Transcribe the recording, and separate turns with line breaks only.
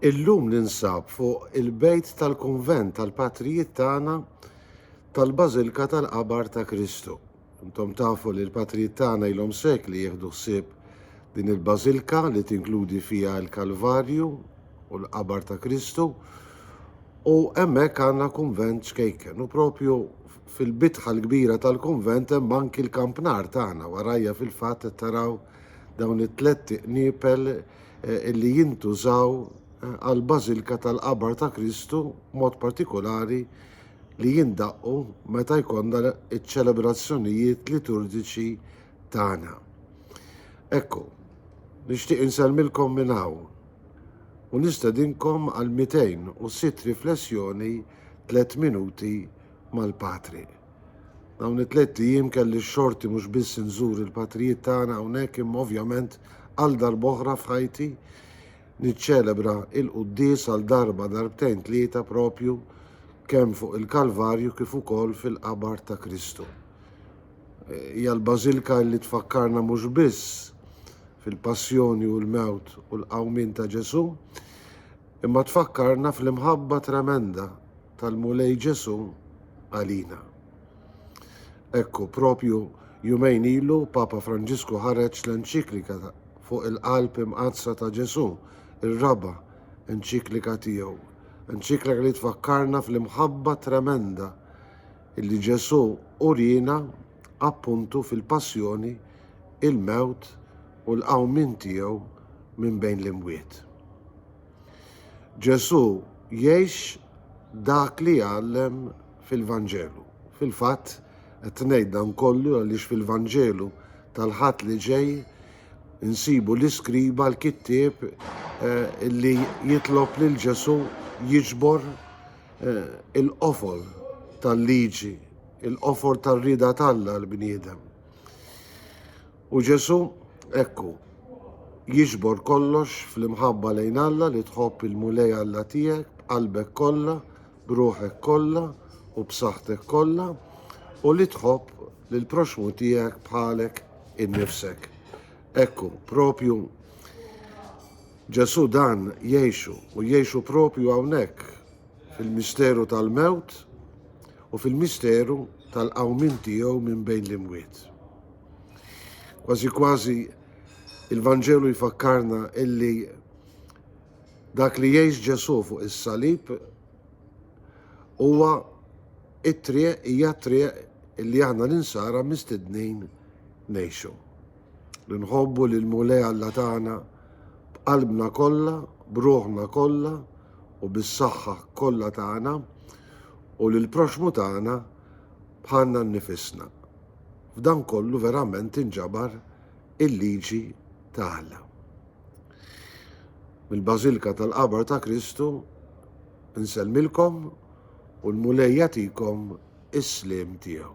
Illum ninsab fuq il-bejt tal-kunvent tal-patrijiet tagħna tal-Bażilka tal-Qabar ta' Kristu. Intom tafu li l-patrijiet tagħna ilhom sekli jieħdu ħsieb din il-bażilka li tinkludi fiha l-Kalvarju u l-Qabar ta' Kristu u hemmhekk għandna kunvent ċkejken u propju fil-bitħa l-kbira tal-kunvent hemm anki l-kampnar tagħna warajja fil-fatt qed taraw Dawn it-tlett qniepel li jintużaw għall-bażilka tal-qabar ta' Kristu b'mod partikulari li jindaqqu meta jkollna ċ-ċelebrazzjonijiet liturġiċi tagħna. Ekku, nixtieq insellmilkom minn hawn u nistedinkom għal 206 riflessjoni tliet minuti mal-Patri. Dawn it-tlett ijiem kelli x-xorti mhux biss inżur il-patrijiet tagħna hawnhekk imma ovvjament għal darb'oħra f'ħajti niċċelebra il-quddies għal darba darbtejn tlieta propju kemm fuq il-Kalvarju kif ukoll fil-qabar ta' Kristu. E, hija l-Bażilka li tfakkarna mhux biss fil-passjoni u l-mewt u l-qawmin ta' Ġesu, imma tfakkarna fl-imħabba tremenda tal-Mulej Ġesù għalina. Ekku, propju jumejn ilu Papa Franġisku ħareġ l-enċiklika fuq il-qalb imqaddsa ta' Ġesù, ir-raba' enċiklika tiegħu, enċiklika li tfakkarna fl-imħabba tremenda illi Ġesù urina appuntu fil-passjoni, il-mewt u l-qawmien tiegħu minn bejn l-imwiet. Ġesù jgħix dak li jgħallem fil-Vanġelu. Fil-fatt, qed ngħid dan kollu għaliex fil-Vanġelu tal-Ħadd li ġej insibu l-iskriba l-kittieb eh, li jitlob lil Ġesù jiġbor eh, il-qofol tal-liġi, il-qofol tar-rida tal-bniedem. U Ġesù, ekku, jiġbor kollox fl-imħabba lejn Alla li tħobb il-Mulej Alla tiegħek b'qalbek kollha, b'ruħek kollha u b'saħħtek kollha u li tħobb lill-proxxmu tiegħek bħalek innifsek. Ekku, propju Ġesù dan jgħixu u jgħixu propju hawnhekk fil-misteru tal-mewt u fil-misteru tal-qawmin tiegħu minn bejn l-imwiet. Kważi kważi il-Vanġelu jfakkarna illi dak li jgħix Ġesù fuq is-salib huwa it-triq hija triq illi aħna l-insara mistednin ngħixu. Li nħobbu lil Mulej Alla tagħna b'qalbna kollha, b'ruħna kollha u bis-saħħa kollha tagħna u lil proxmu tagħna bħalna nnifisna. f'dan kollu verament tinġabar il-liġi ta' Alla. Mill-Bażilka tal-Qabar ta' Kristu nsellmilkom u l-Mulej jagħtikom is-sliem tiegħu.